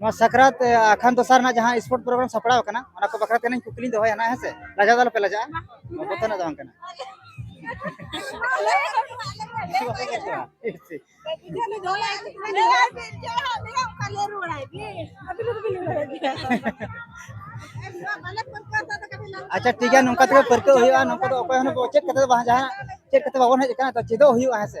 ᱱᱚᱣᱟ ᱥᱟᱠᱨᱟᱛ ᱟᱠᱷᱟᱱ ᱫᱚᱥᱟᱨ ᱨᱮᱱᱟᱜ ᱡᱟᱦᱟᱸ ᱥᱯᱳᱨᱴ ᱯᱨᱳᱜᱨᱟᱢ ᱥᱟᱯᱲᱟᱣ ᱟᱠᱟᱱᱟ ᱚᱱᱟ ᱠᱚ ᱵᱟᱠᱷᱨᱟ ᱛᱮ ᱱᱟᱹᱧ ᱠᱩᱠᱞᱤᱧ ᱫᱚᱦᱚᱭᱟ ᱱᱟᱜ ᱦᱮᱸᱥᱮ ᱞᱟᱡᱟᱣ ᱫᱚ ᱟᱞᱚᱯᱮ ᱞᱟᱡᱟᱜᱼᱟ ᱵᱚᱛᱚᱨ ᱨᱮᱱᱟᱜ ᱫᱚ ᱵᱟᱝ ᱠᱟᱱᱟ ᱟᱪᱪᱷᱟ ᱴᱷᱤᱠ ᱜᱮᱭᱟ ᱱᱚᱝᱠᱟ ᱛᱮᱜᱮ ᱯᱟᱹᱨᱠᱟᱹᱣ ᱦᱩᱭᱩᱜᱼᱟ ᱱᱚᱝᱠᱟ ᱫᱚ ᱚᱠᱚᱭ ᱦᱚᱸ ᱪᱮᱫ ᱠᱟᱛᱮ ᱫᱚ ᱵᱟᱝ ᱡᱟᱦᱟᱱᱟᱜ ᱪᱮᱫ ᱠᱟᱛᱮ ᱵᱟᱵᱚᱱ ᱦᱮᱡ ᱟᱠᱟᱱᱟ ᱛᱚ ᱪᱮᱫᱚᱜ ᱦᱩᱭᱩᱜᱼᱟ ᱦᱮᱸᱥᱮ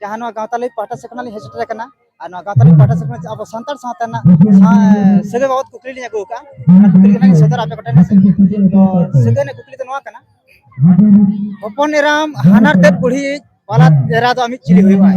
ᱡᱟᱦᱟᱸ ᱱᱚᱣᱟ ᱜᱟᱶᱛᱟ ᱞᱟᱹᱜᱤᱫ ᱯᱟᱦᱴᱟ ᱥᱮᱫ ᱠᱷᱚᱱᱟᱜ ᱞᱤᱧ ᱦᱮᱡ ᱥᱮᱴᱮᱨ ᱟᱠᱟᱱᱟ ᱟᱨ ᱱᱚᱣᱟ ᱜᱟᱶᱛᱟ ᱞᱟᱹᱜᱤᱫ ᱯᱟᱦᱴᱟ ᱥᱮᱫ ᱠᱷᱚᱱᱟᱜ ᱟᱵᱚ ᱥᱟᱱᱛᱟᱲ ᱥᱟᱶᱛᱟ ᱨᱮᱱᱟᱜ ᱥᱟᱹᱜᱟᱹᱭ ᱵᱟᱵᱚᱫ ᱠᱩᱠᱞᱤ ᱞᱤᱧ ᱟᱹᱜᱩ ᱟᱠᱟᱫᱼᱟ ᱚᱱᱟ ᱠᱩᱠᱞᱤ ᱜᱮ ᱞᱤᱧ ᱥᱚᱫᱚᱨ ᱟᱯᱮ ᱠᱚᱴᱷᱮᱱ ᱦᱮᱸᱥᱮ ᱛᱚ ᱥᱟᱹᱜᱟᱹᱭ ᱨᱮᱱᱟᱜ ᱠᱩᱠᱞᱤ ᱫᱚ ᱱᱚᱣᱟ ᱠᱟᱱᱟ ᱦᱚᱯᱚᱱ ᱮᱨᱟᱢ ᱦᱟᱱᱟᱨ ᱛᱮᱫ ᱵᱩᱲᱦᱤ ᱵᱟᱞᱟ ᱮᱨᱟ ᱫᱚ ᱟᱢᱤᱡ ᱪᱤᱞᱤ ᱦᱩᱭᱩᱜᱼᱟᱭ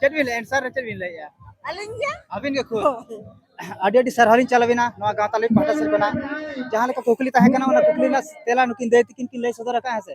ᱪᱮᱫ ᱵᱤᱱ ᱞᱟᱹᱭᱟ ᱮᱱᱥᱟᱨ ᱪᱮᱫ ᱵᱤᱱ ᱞᱟᱹᱭᱟ ᱟᱹᱞᱤᱧ ᱜᱮ ᱟᱹᱵᱤᱱ ᱜᱮ ᱠᱷᱩᱫ ᱟᱹᱰᱤ ᱟᱹᱰᱤ ᱥᱟᱨᱦᱟᱣ ᱞᱤᱧ ᱪᱟᱞ ᱟᱵᱤᱱᱟ ᱱᱚᱣᱟ ᱜᱟᱶᱛᱟ ᱞᱟᱹᱜᱤᱫ ᱯᱟᱦᱴᱟ ᱥᱮᱫ ᱠᱷᱚᱱᱟᱜ ᱡᱟᱦᱟᱸ ᱞᱮᱠᱟ ᱠᱩᱠᱞᱤ ᱛᱟᱦᱮᱸ ᱠᱟᱱᱟ ᱚᱱᱟ ᱠᱩᱠᱞᱤ ᱨᱮᱱᱟᱜ ᱛᱮᱞᱟ ᱱᱩᱠᱤᱱ ᱫᱟᱹᱭ ᱛᱤᱠᱤᱱ ᱠᱤᱱ ᱞᱟᱹᱭ ᱥᱚᱫᱚᱨ ᱟᱠᱟᱫᱼᱟ ᱦᱮᱸ ᱥᱮ